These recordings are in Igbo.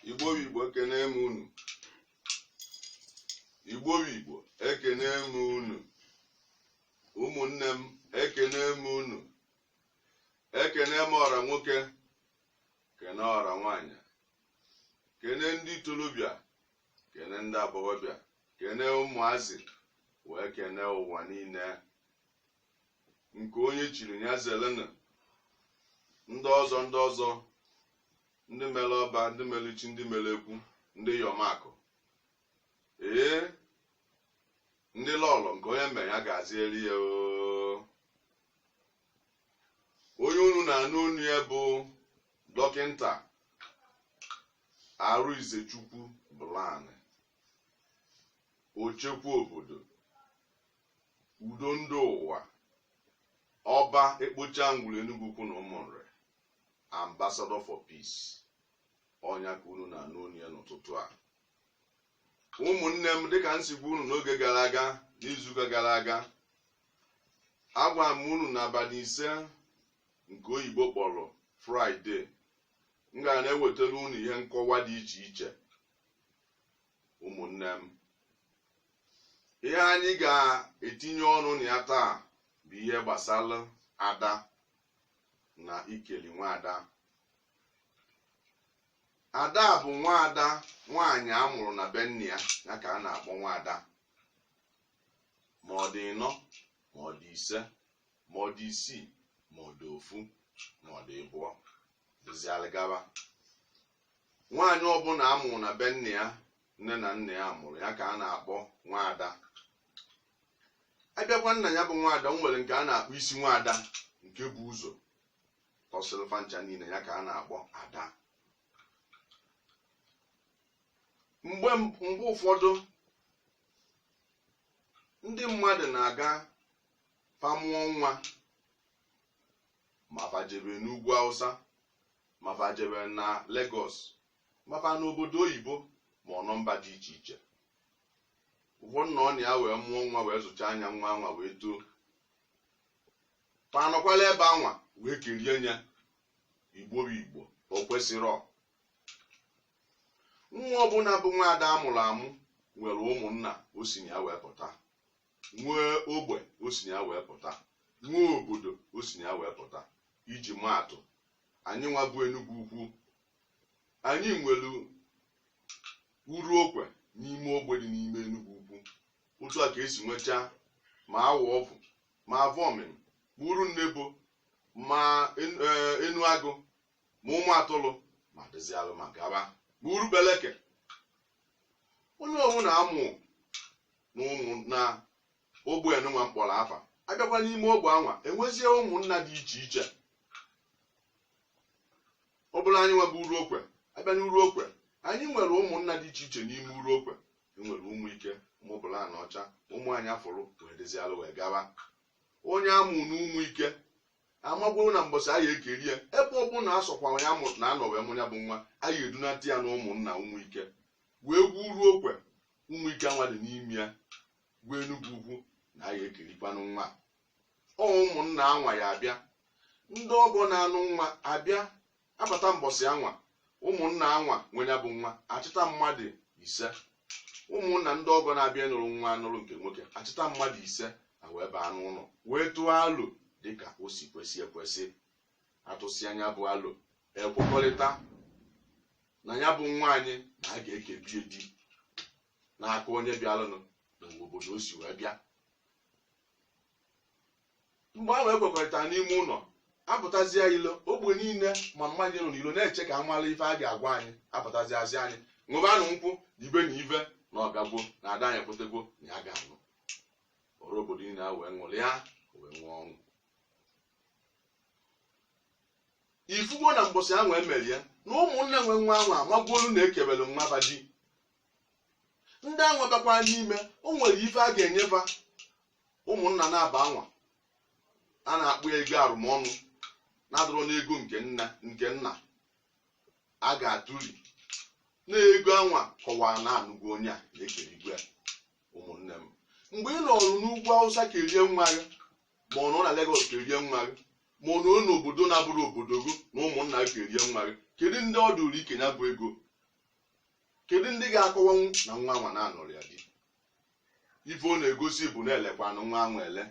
igbo bụ igbo ekene m unu igbo bụ igbo ekene m unu ụmụnne m ekene m unu ekene m ọra nwoke kene ọra nwaanyị kene ndị ntolobịa kene ndị agbọghọbịa kene ụmụazị wee kene ụwa niile nke onye chiri ya zelena ndị ọzọ ndị ọzọ ndị mere ọba ndị mere chi ndị mere ekwu ndị iyọm akụ ee ndị lọlọ nke onye mere ya gaziere ya oo onye unu na-anụ onu ya bụ dọkịnta Arịnzechukwu Bụlanị ochekwa obodo udo ndị ụwa ọba ekpocha ngwuru Enugu Ukwu na Ụmụnri ambassador for peace ọ nya ka unu na-anụ onu ya n'ụtụtụ a ụmụnne m dịka m si gwa unu n'oge gara aga n'izuụka gara aga agwa m unu n'abalị ise nke oyibo kpọrọ fraịde m ga na-ewetara unu ihe nkọwa dị iche iche ụmụnne m ihe anyị ga-etinye ọnụ na ya taa bụ ihe gbasara ada na ikeli nwaada ada bụ nwaada nwaanyị a mụrụ na be nna ya ya ka a na-akpọ nwaada ma ọ dị ịnọ ma ọ dị ise ma ọ dị isii ma ọ dị ofu ma ọ dị ịbụọ dịzialụ gaba nwaanyị ọbụla a mụrụ na be nna ya nne na nna ya mụrụ ya ka a na-akpọ nwaada a bịakwa na ya bụ nwaada o nwere nke a na-akpọ isi nwaada nke bu ụzọ tọsịrị fa ncha niile ya ka a na-akpọ ada mgbe ụfọdụ ndị mmadụ na-aga fa mụọ nwa ma fa jebe n'ugwu Hausa ma fa jebe na Lagos ma fa n'obodo oyibo ma ọ nọ mba dị iche iche ụfọdụ na-anọ na ya wee mụọ nwa wee zụchaa nya nwa anwa wee too fa anọkwala ebe anwa wee kerie nya igbo bụ igbo o kwesịrọ nwa ọbụla bụ nwaada a mụrụ amụ nwere ụmụnna o si na ya wee pụta nwee ogbe o si na ya wee pụta nwee obodo o si na ya wee pụta iji maa atụ anyị nwa bụ Enugu Ukwu anyị nwere Uruokwe n'ime ogbe dị n'ime Enugu Ukwu otu a ka e si nwechaa ma Awovu ma avomimi ma uru nnebo ma en- eh, enu agụ ma ụmụ atụlụ ma dịzialụ ma gaba ma uru kpaleke onye ọwụna a mụ na ụmụ na ogbe anụnwa m kpọrọ afa abịakwa n'ime ogbe anwa enwezie ụmụnna dị iche iche ọ bụrụ anyị nwa bụ uru okwe abịa n'uru okwe anyị nwere ụmụnna dị iche iche n'ime uru okwe enwere ụmụ ike ụmụ bụla na ọcha ụmụ anya fụrụ wee dịzialụ wee gawa onye a mụ na ụmụ ike amagworo na mbọsị anyị ekeri ya ebe ọ bụla asọkwa ya mụ na anọ wee mụ ya bụ nwa anyị edunata ya na ụmụnna ụmụ ike wee gwa uru okwe ụmụ ike anwa dị n'ime ya gwa enugwu ukwu na anyị ekerikwanụ nwa ọ ụmụnna anwa ya abịa ndị ọgọ na-anụ nwa abịa abata mbọsị anwa ụmụnna anwa nwe ya bụ nwa achịta mmadụ ise ụmụnna ndị ọgọ na-abịa ịnụrụ nwa anụrụ nke nwoke achịta mmadụ ise a wee baa n'ụlọ wee tụọ alo dịka o si kwesị ekwesị atụsịa nya bụ alo ekwekọrịta na ya bụ nwanyị na a ga-ekebe ya di n'aka onye bịaranụ na obodo o si wee bịa mgbe ahụ ekwekọrịtara n'ime ụlọ apụtazie ilo ogbe niile ma mmadụ nọ n'ilo na-eche ka a mara ife a ga-agwa anyị apụtazia sị anyị ṅụbanụ nkwụ ibe na ive na ọgagwo na ada anyị ekwetagwo na ya ga-anụ ọra obodo niile a wee ṅụrịa wee nwee ọṅụ ifugo na mbọsị ahụ emere ya na ụmụnna nwe nwa ahụ amagwolu na ekebere nwa fa di ndị anwa bịakwa n'ime o nwere ife a ga-enye fa ụmụnna na aba anwa a na-akpọ ego arụmọnụ na-adịrọ n'ego nke nna a ga-atụri na ego anwa kọwara na anụgo onye a na ekerigo ya ụmụnne m mgbe ị nọrụ n'ugwu awụsa kerie nwa gị ma ọ nọ na Lagos kerie nwa gị ma ọ nọ n'obodo na-abụrọ obodo gị na ụmụnna gị kerie nwa gị kedu ndị ọ dụrụ ike nya bụ ego kedu ndị ga-akọwanwu na nwa anwa na a nụrụ ya di ife ọ na-egosi bụ na elekwanụ nwa anwa ele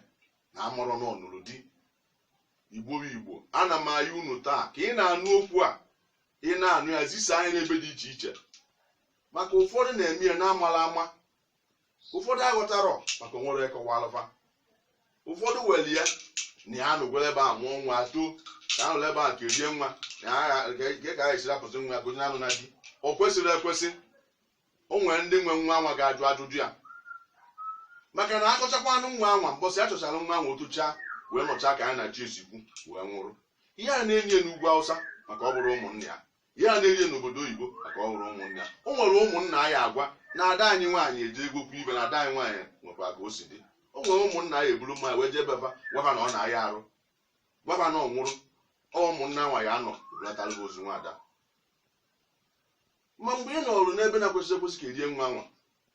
na abụrọ na ọ nụrụ di igbo bụ igbo ana m ayọ unu taa ka ị na-anụ okwu a ị na-anụ ya zisaa nya n'ebe dị iche iche maka ụfọdụ na-eme ya na-amala ama ụfọdụ aghọtarọ maka o nwerọ kọwaalụ fa ụfọdụ were ya na ya anụgwere ebe a mụọ nwa too na anụla ebe a kerie nwa na agha nke ka a esiri apụsị nwa gụnye anụ na di o kwesịrị ekwesị o nwere ndị nwe nwa anwa ga-ajụ ajụjụ ya maka na achọchakwanụ nwa anwa mbọsị a chọchara nwa anwa o toochaa wee nọchaa ka ya na chi ya si kwu wee nwụrụ ihe a na-enye n'ugwu awụsa maka ọ bụrụ ụmụnne ya ihe a na-erie n'obodo oyibo maka ọ hụrụ ụmụnne ya o nwere ụmụnna a ya-agwa na ada anyị nwaanyị eji ego kwu ibe na ada anyị nwaanyị nwekwa ka o si dị o nwere ụmụnna a ya-eburu mmanya wee jee be fa gwa fa na ọ na-aya arụ gwa fa na ọ nwụrụ ọ ụmụnna nwaanyị anọ bulatara gị ozu nwaada ma mgbe ị nọrụ n'ebe na-ekwesị ekwesị kerie nwa anwa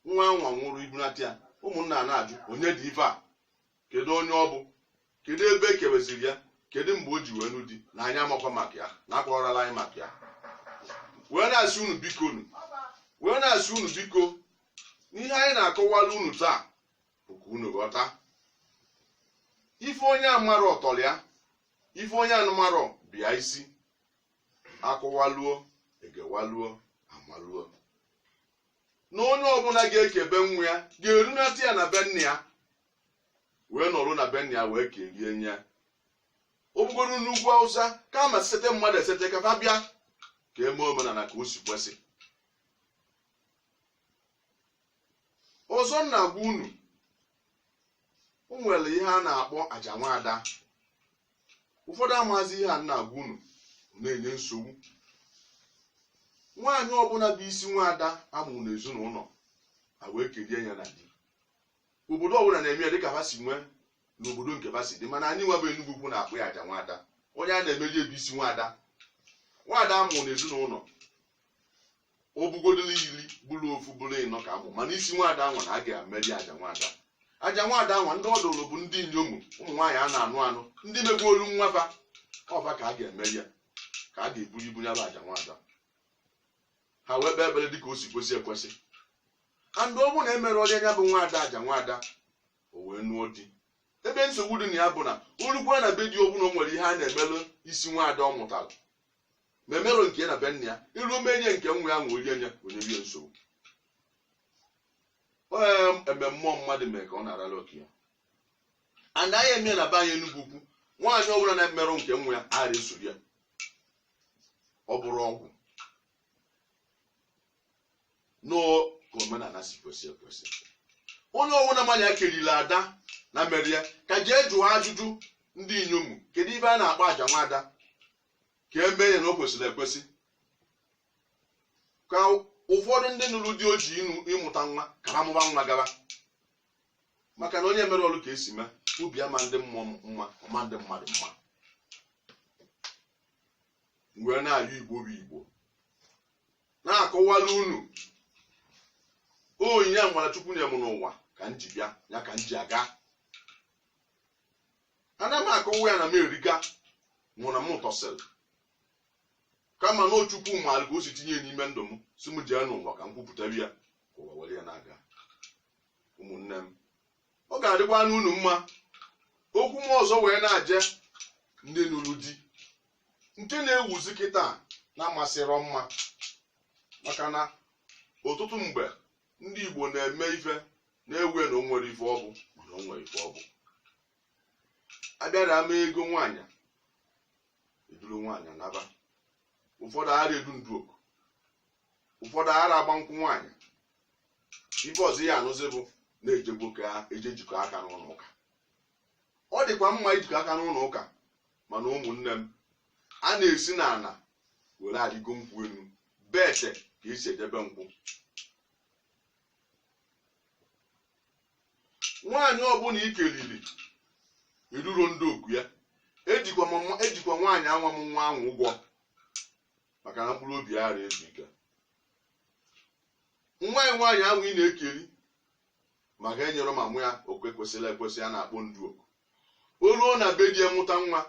nwa anwa nwụrụ ibunata ya ụmụnna a na-ajụ onye dị ife a kedu onye ọ bụ kedu ebe e kebeziri ya kedu mgbe o ji wee nụ di na anyị amakwa maka ya na akọrọla anyị maka ya wee na-asị unu biko n'ihe anyị na-akọwala unu taa bụ ka unu ghọta ife onye amarọ ọ tọrọ ya ife onye anụmarọ bịa isi akọwaluo egewaluo amaluo na onye ọbụla ga-ekebe nwa ya ga-erunata ya na be nna ya wee nọrọ na be nna ya wee kerie nye ọ bụgoro n'ugwu awụsa kama sete mmadụ esete ka fa bịa ka eme omenala ka o si kwesị ọzọ m na-agwa unu o nwere ihe a na-akpọ aja nwaada ụfọdụ amazị ihe a m na-agwa unu na-enye nsogbu nwaanyị ọbụla bụ isi nwaada a mụrụ n'ezinụlọ a wee kerie ya na di obodo ọbụla na-eme ya dịka ha si nwee n'obodo nke ha si dị mana anyị nwa bụ Enugwu ukwu na-akpọ ya aja nwada onye a na-emeri ya bụ isi nwada nwada a mụrụ n'ezinụlọ ọ bụgodoro iri bụrụ ofu bụrụ ịnọ ka amụ mana isi nwada anwa na a ga-emeri aja nwada aja nwada anwa ndị ọ dụrụ bụ ndị inyom ụmụ nwaanyị a na-anụ anụ ndị megwolu nwa fa ọ fa ka a ga-emeri ya ka a ga-eburu ibu ya bụ aja nwada ha wee kpee ekpere dịka o si kwesị ekwesị and ọ bụrụ na emerọ onye ya bụ nwaada aja nwaada o wee nụọ di ebe nsogbu dị na ya bụ na o rukwa na be di ọbụla o nwere ihe a na-emelụ isi nwaada ọ mụtara ma emerọ nke ya na be nna ya eruo menye nke nwa ya wee rie ya ọ nyebe nsogbu ee eme mmụọ mmadụ mee ka ọ na-arara oke ya and anyị emee na be anyị Enugwu ukwu nwaanyị ọbụla na-emerụ nke nwa ya ara esoro ya ọ bụrọ ọgwụ n'ọ ka omenala si kwesị ekwesị onye ọbụla ma na ya keriri ada na emerọ ya ka jee jụọ ajụjụ ndị inyom kedu ife a na-akpọ aja nwada ka eme ya na o kwesịrị ekwesị ka ụfọdụ ndị nụrụ di ọ jụ ịmụta nwa ka ha mụba nwa gaba maka na onye mere ọrụ ka e si mee ubi ama ndị mmụọ mma ọ maa ndị mmadụ mma wee na-ayọ igbo bụ igbo na-akọwala unu onyinye amara chukwu nye m n'ụwa ka m ji bịa ya ka m ji aga ana m akọwa ya na m eriga mụ na m tosiri kama na ọ chukwu maara ka o si tinye n'ime ndụ m sị m jee n'ụwa ka m kwupụtara ya ka ụwa were ya na-aga ụmụnne m ọ ga-adịkwanụ unu mma okwu m ọzọ wee na-aje ndị nụrụ di nke na-ewuzi kịta na-amasịrọ mma maka na ọtụtụ mgbe ndị Igbo na-eme ife na-ewe na o nwere ife ọ bụ mana o nwere ife ọ bụ abịara eme ego nwaanyị eduru nwaanyị naba ụfọdụ ara edu ndu oku ụfọdụ ara agba nkwụ nwaanyị ife ọzọ ya anụzi bụ na ejegokwa eje jikọ aka n'ụlọ ụka ọ dịkwa mma ijikọ aka n'ụlọ ụka mana ụmụnne m a na-esi na ala were arịgo nkwụ elu bete ka esi edebe nkwụ nwaanyị ọbụla i kelili i duro ndu oku ya ejikwa nwaanyị anwa mụ nwa ahụ ụgwọ maka na mkpụrụ obi ara ezu ike nwa ya nwaanyị ahụ ị na-ekeri maka enyerọ mama ya oke kwesịrị ekwesị a na-akpọ ndu oku o ruo na be di ya mụta nwa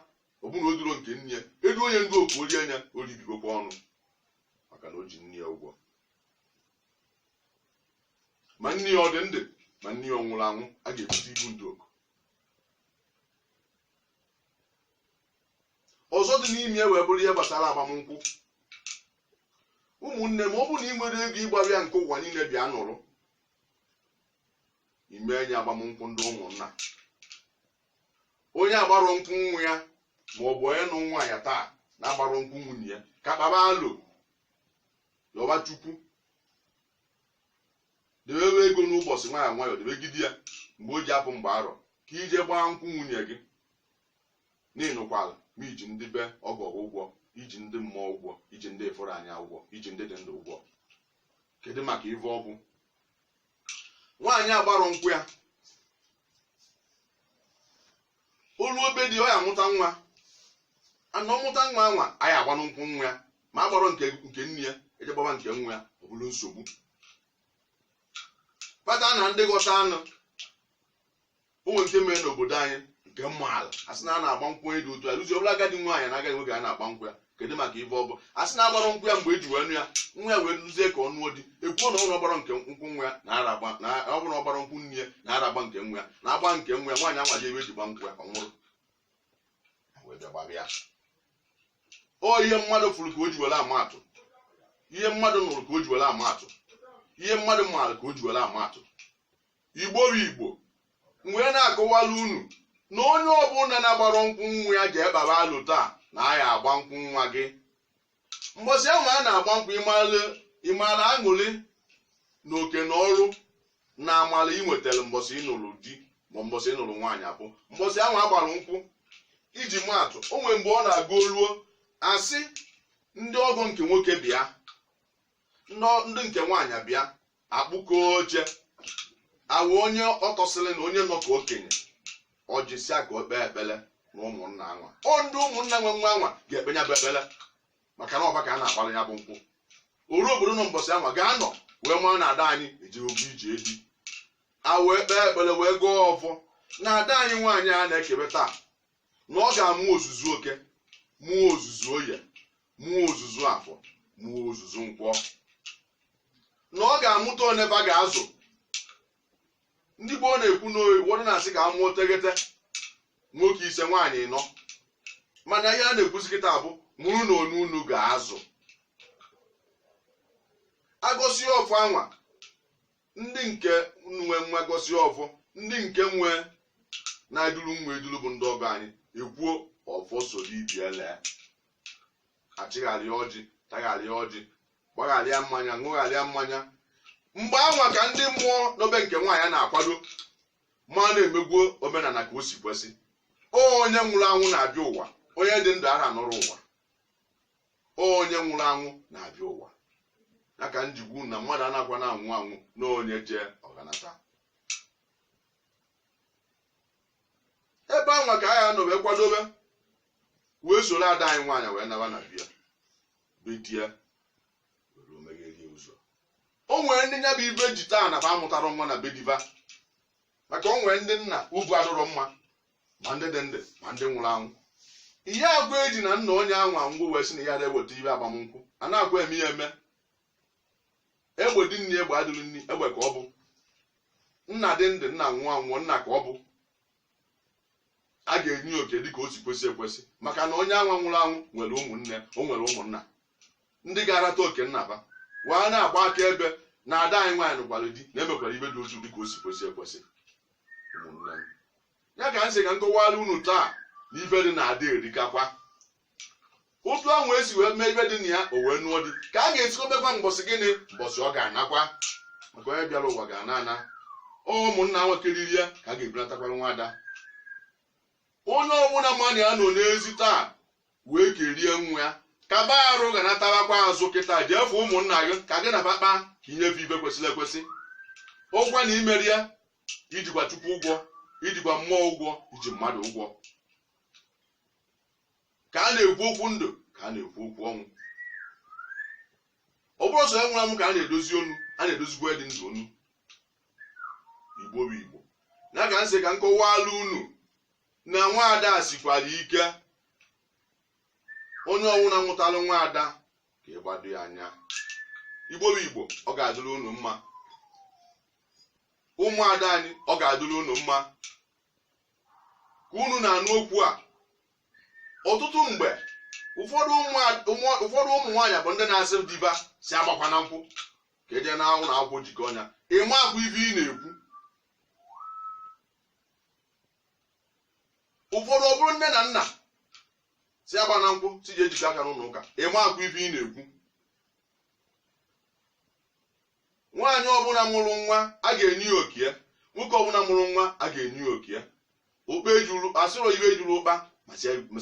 ọ bụrụ na o duro nke nne ya edu onye ndu oku o rie nya o ribigokwa ọnụ maka na o ji nne ya ụgwọ ma nne ya ọ dị ndụ ma nne ya ọ nwụrụ anwụ a ga-ebute ibu ndu oku ọzọ dị n'ime ya wee bụrụ ihe gbasara agbamnkwụ ụmụnne m ọ bụrụ na ị nwere ego ị gbara ya nke ụwa niile bịa nụrụ ime enye agbamnkwụ ndị ụmụnna onye agbarọ nkwụ nwa ya ma ọ bụ onye nụ nwaanyị taa na-agbarọ nkwụ nwunye ya ka kpaba alo yọba chukwu debebe ego n'ụbọchị nwayọ nwayọ debegide ya mgbe o ji apụ mgbe arọ ka i je gbaa nkwụ nwunye gị n'ịnụkwala ma i ji ndị be ọgọ gị ụgwọ i ji ndị mmụọ ụgwọ i ji ndị ị fụrụ anya ụgwọ i ji ndị dị ndụ ụgwọ kedu maka ive ọgwụ nwaanyị agbarọ nkwụ ya o luo be di ọ ya-amụta nwa and ọ mụta nwa anwa a ya-agbanụ nkwụ nwa ya ma a gbarọ nke nne ya e je gbaba nke nwa ya ọ bụrụ nsogbu kpata na ndị ghọta anụ o nwere nke mere n'obodo anyị nke m maara a sị na a na-agba nkwụ onye dị otu a ruzie ọ bụrụ agadi nwaanyị na agadi nwoke a na-agba nkwụ ya kedu maka ife ọ bụ a sị na agbara nkwụ ya mgbe eji wee nụ ya nwa ya wee ruzie ka ọ nụọ di ekwuo na ọ bụrụ ọ gbara nke nkwụ nwa ya na ara agba na ọ bụrụ ọ gbara nkwụ nne ya na ara agba nke nwa ya na agba nke nwa ya nwaanyị anwa ji ebe eji gba nkwụ ya ọ nwụrụ Ha wee bịa gbaba ya ọ ihe mmadụ fụrụ ka o ji were ama atụ ihe mmadụ nụrụ ka o ji were ama atụ ihe mmadụ maara ka o ji were ama atụ igbo bụ igbo m wee na-akọwala unu na onye ọbụla na-agbara nkwụ nwa ya ji ekpara alụ taa na a ya-agba nkwụ nwa gị mbọsị anwa a na-agba nkwụ ị mara aṅụrị na oke na ọrụ na amara ị nwetara mbọsị ị nụrụ di ma mbọsị ị nụrụ nwaanyị abụ mbọsị anwa a gbara nkwụ iji maa atụ o nwere mgbe ọ na-aga o ruo asị ndị ọgọ nke nwoke bịa ndị nke nwaanyị bịa akpụkọ oche awa onye o tosiri na onye nọ ka okenye ọ jisia ka o kpee ekpere na ụmụnna anwa ọ ndị ụmụnna nwe nwa anwa ga-ekpe ya bụ ekpere maka na ọ ba ka a na-agbara ya bụ nkwụ ọra obodo nọ mbọsị anwa ga-anọ wee mara na ada anyị ejego ije di a wee kpee ekpere wee gọọ ọfọ na ada anyị nwaanyị a na-ekebe taa na ọ ga-amụ ozuzu eke mụọ ozuzu oye mụọ ozuzu afọ mụọ ozuzu nkwọ na ọ ga-amụta one ba ga-azụ ndị gboo na-ekwu na ụfọdụ na-asị ka a mụọ tegete nwoke ise nwaanyị ịnọ mana ihe a na-ekwuzi kịta bụ mụrụ nụ one unu ga-azụ agọsịa ọfọ anwa ndị nke nwe nwa gọsịa ọfọ ndị nke nwe na-eduru nwa eduru bụ ndị ọgọ anyị ekwuo ọfọ soro ibe ya lee achịgharịa ọjị tagharịa ọjị gbagharịa mmanya ṅụgharịa mmanya mgbe anwa ka ndị mmụọ nọ be nke nwaanyị na-akwado ma na-emekwuo omenala ka o si kwesị onye nwụrụ anwụ na-abịa ụwa onye dị ndụ ara nọrọ ụwa onye nwụrụ anwụ na-abịa ụwa ya ka m ji kwu na mmadụ anakwa na-anwụ anwụ na onye jee ọ ga-anata ebe anwa ka a ya-anọ wee kwadobe wee soro ada anyị nwaanyị wee naba na be ya be di ya were omegherie ụzọ o nwere ndị nya bụ ife ji taa na ba amụtara nwa na be di ba maka o nwere ndị nna ukwu adịrọ mma ma ndị dị ndụ ma ndị nwụrụ anwụ ihe agwa eji na nna onye anwa anwụọ wee sị na ya na-eweta ife agbamnkwụ a na-akwa eme ya eme egbe dị nri egbe adịrọ nri egbe ka ọ bụ nna dị ndụ nna nwụọ anwụọ nna ka ọ bụ a ga-enye oke dịka o si kwesị ekwesị maka na onye anwa nwụrụ anwụ nwere ụmụnne o nwere ụmụnna ndị ga-arata oke nnaba wee na-agba aka ebe na ada anyị nwaanyị nụkwara di na emekwara ife dị otu dị ka o si kwesị ekwesị ụmụnne m ya ka m sị ka m kọwara unu taa na ife dị na ada erikakwa otu ahụ esi wee mee ife dị na ya o wee nụọ di ka a ga-esikwa mekwa mbọsị gịnị mbọsị ọ ga-anakwa maka onye bịara ụwa ga-ana ana ụmụnna nwakiriri ya ka a ga-ebulatakwara nwa ada onye ọbụla mmadụ ya nọ n'ezi taa wee kerie nwa ya kaba arụ ga natabakwa azụ kịta jee fụ ụmụnna gị ka gị na fa kpaa ka i nye fa ife kwesịrị ekwesị ụgwọ na i mero ya ijikwa chukwu ụgwọ ijikwa mmụọ ụgwọ iji mmadụ ụgwọ ka a na-ekwu okwu ndụ ka a na-ekwu okwu ọnwụ ọ bụrọ sọ onye nwụrụ anwụ ka a na-edozi onu a na-edozikwa dị ndụ onu igbo bụ igbo ya ka m sị ka m kọwaalụ unu na nwaada sikwara ike onye ọbụna mụtalụ nwaada ka ị gbado ya anya igbo bụ igbo ọ ga-adịrị unu mma ụmụada anyị ọ ga-adịrị unu mma ka unu na-anụ okwu a ọtụtụ mgbe ụfọdụ ụmụada- ụmụ- ụfọdụ ụmụ nwaanyị bụ ndị na-asị di fa sị agbakwana nkwụ ka eje na ụlọ akwụkwọ jikọ ọnya ị makwa ife ị na-ekwu ụfọdụ ọ bụrụ nne na nna sị agbana nkwụ sị jee jikọ aka n'ụlọ ụka ị makwa ife ị na-ekwu nwaanyị ọbụla mụrụ nwa a ga-enye ya oke ya nwoke ọbụla mụrụ nwa a ga-enye ya oke ya ụkpa ejuru asịrọ ife ejuru ụkpa ma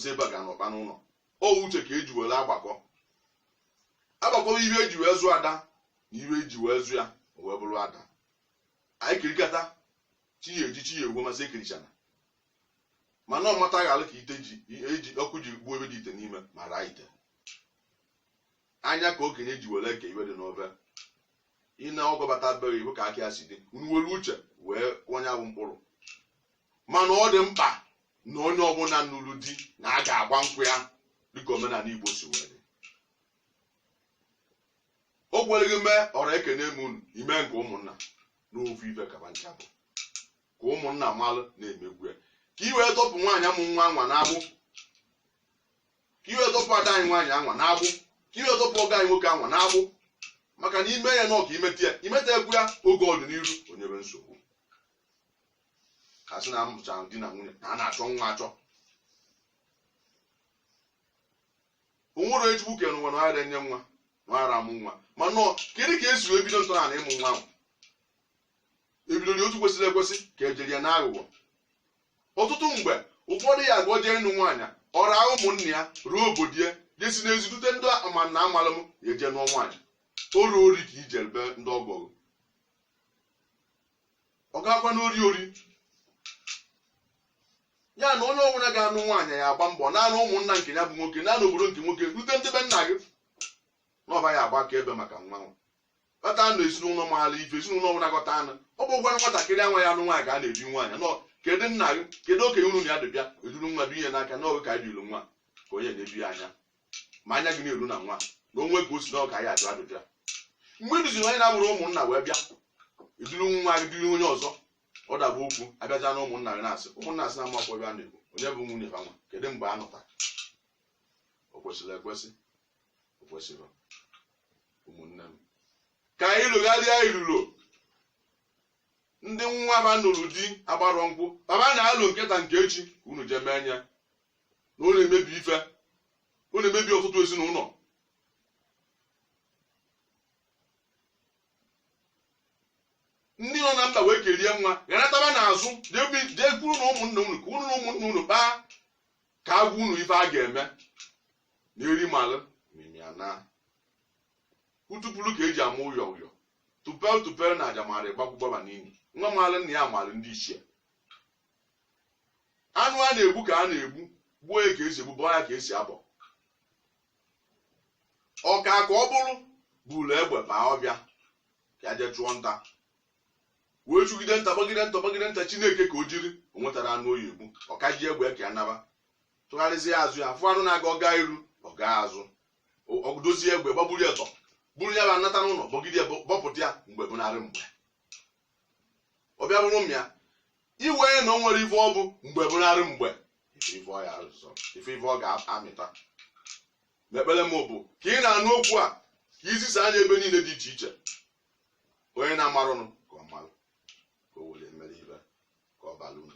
sị ebe a ga na ụkpa n'ụlọ ọ uche ka eji were agbakọ agbakọ ife eji wee zụ ada na ife eji wee zụ ya o wee bụrụ ada anyị kirikata chi ejie chi efo ma sị ekirichana mana ọ mataghị alụ ka ite ji eji ọkụ ji gbuo ife dị ite n'ime ma raa ite anya ka okenye ji were eke ife dị n'ofe ị na ọgọbata beghị iwu ka aka ya si dị unu were uche wee onye abụ mkpụrụ mana ọ dị mkpa na onye ọbụla nụrụ di na a ga-agba nkwụ ya dịka omenala igbo si wee dị o kwerọ gị mee ọra ekene m unu i mee nke ụmụnna n'ofu ife ka fa ncha bụ ka ụmụnna malụ na emego ya ka i wee tọpụ nwaanyị amụ nwa anwa n'agbụ ka i wee tọpụ ada anyị nwaanyị anwa n'agbụ ka i wee tọpụ ọgọ anyị nwoke anwa n'agbụ maka na ime ya n'ọka imeta ya imeta egwu ya oge ọdịnihu o nyebe nsogbu ka sị na amụcha di na nwunye na a na-achọ nwa achọ o nwerọ onye chukwu kere n'ụwa na ọghara enye nwa na ọghara amụ nwa mana ọ kedu ka esi ebido ntọala na ịmụ nwa ahụ ebidoro ya otu kwesịrị ekwesị ka ejiri ya n'aghụghọ ọtụtụ mgbe ụfọdụ ya agụọ jee ịnụ nwaanyị ọ rapụ ụmụnna ya ruo obodo ya jesi n'ezi dute ndị ama na amala m ya eje nụọ nwaanyị o ruo ori ka ije ebe ndị ọgọ ọ ga-agwa n'ori ori ya na onye ọbụla ga-anụ nwaanyị ya agba mbọ naanị ụmụnna nke ya bụ nwoke naanị obodo nke nwoke dute ndị be nna gị na ọ ba ya agba akaebe maka nwa nwa kpata anụ ezinụlọ maara ife ezinụlọ ọbụla gọta anụ ọ bụ gwara nwatakịrị anwa ya anụ nwaanyị ka a na-ebi nwaanyị nọ kedu nna gị kedu okenye unu ya dubịa eduru nwa bi ihe n'aka n'oge ka anyị dịru nwa ka onye na-ebi ya anya ma anya gị na-eru na nwa na o nwe ka o si n'ọka ya ajụ ajụjụ a mgbe ị duziri onye na-abụrọ ụmụnna wee bịa iduru nwa gị duru onye ọzọ ọ daba okwu abịaja na ụmụnna gị na-asị ụmụnna asị na amakwa ebe a na-ekwu onye bụ nwunye ha nwa kedu mgbe a nụtara o kwesịrị ekwesị o kwesịrọ ụmụnne m ka anyị logharịa ilolo ndị nwa ba nụrụ di agbarọ nkwụ baba na-alụ nke taa nke echi ka unu jee mee anya na ọ na-emebi ife ọ na-emebi ọtụtụ ezinụlọ ndị nọ na mba wee kerie nwa ga nataba n'azụ jee bi- jee kwuru na ụmụnna unu ka unu na ụmụnna unu kpaa ka agwa unu ife a ga-eme na eri malụ mimia na utupulu ka eji ama ụyọ ụyọ tupel tupel na aja mara ịgbakwụgbaba n'ili nwa maalụ nna ya maalụ ndị ichie anụ a na-egbu ka a na-egbu gbuo ya ka esi egbu bọọ ya ka esi abọ ọka ka ọ bụrụ buru egbe baa ọfịa ya jee chụọ nta wee chụgide nta gbagide nta gbagide nta chineke ka o jiri o nwetara anụ ọ ya egbu ọ ka ji egbe ka ya naba tụgharịzie azụ ya fụ anụ na-aga ọ gaa iru ọ gaa azụ O- ọ dozie egbe gbagburu ya tọ buru ya bụ anata n'ụlọ bọgide ya bọ- bọpụta ya mgbe bụ narị mgbe ọ bịa bụrụ m ya iwe na o nwere ife ọ bụ mgbe bụ narị mgbe ife ife ọ ya arụzọ ife ife ọ ga-amịta n'ekpere m bụ ka ị na-anụ okwu a ka i zisaa ya ebe niile dị iche iche onye na-amarọnụ ka ọ marụ ka o were mere ibe ka ọ bara unu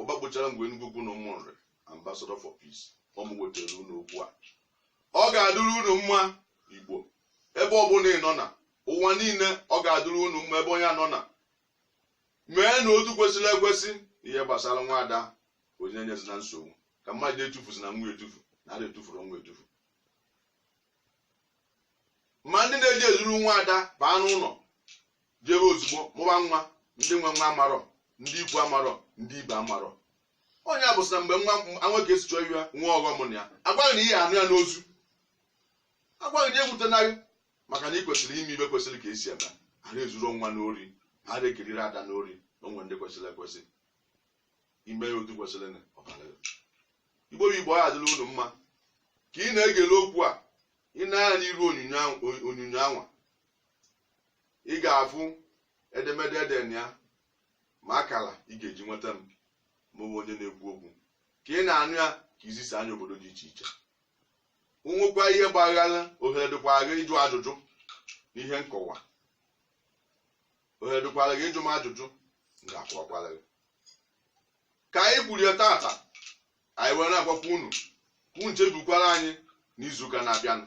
ụba gbụchara ngwe Enugwu Ukwu na Ụmụnri ambassador for peace ọ mụ wetara unu okwu a ọ ga-adịrị unu mma igbo ebe ọbụla ị nọ na ụwa niile ọ ga-adịrị unu mma ebe onye nọ na mee na otu kwesịrị ekwesị ihe gbasara nwa ada onye enyezina nsogbu ka mmadụ etufuzina nwa etufu na ada etufuru nwa etufu ma ndị na-eje ezuru nwa ada baa n'ụlọ jebe ozugbo mụba nwa ndị nwe nwa amarọ ndị ikwu amarọ ndị ibe amarọ onye a bụsị na mgbe nwa nwoke si chọọ ya nwa ọghọm na ya a gwa gị na ị ya-anụ ya n'ozu a gwa gị ya ewutena gị maka na ị kwesịrị ime ihe kwesịrị ka e si eme ara ezuru nwa n'ori ara ekiriri ada n'ori na o nwe ndị kwesịrị ekwesị ime ya otu kwesịrị na ọbara ya. igbo bụ igbo adịla unu mma ka ị na-egele okwu a ị nee anya n'iru onyonyo anwa ị ga-afụ edemede ede na ya ma akala ị ga-eji nweta m mụnwa onye na-ekwu okwu ka ị na-anụ ya ka i zisaa ya obodo dị iche iche o nwekwa ihe gbaghara ohere dịkwara gị ịjụ ajụjụ na ihe nkọwa ohere dịkwara gị ịjụ m ajụjụ m ga-akọwakwara gị ka anyị kwurie tata anyị wee na-agwakwa unu ka unu chebekwara anyị n'izuụka na-abịanụ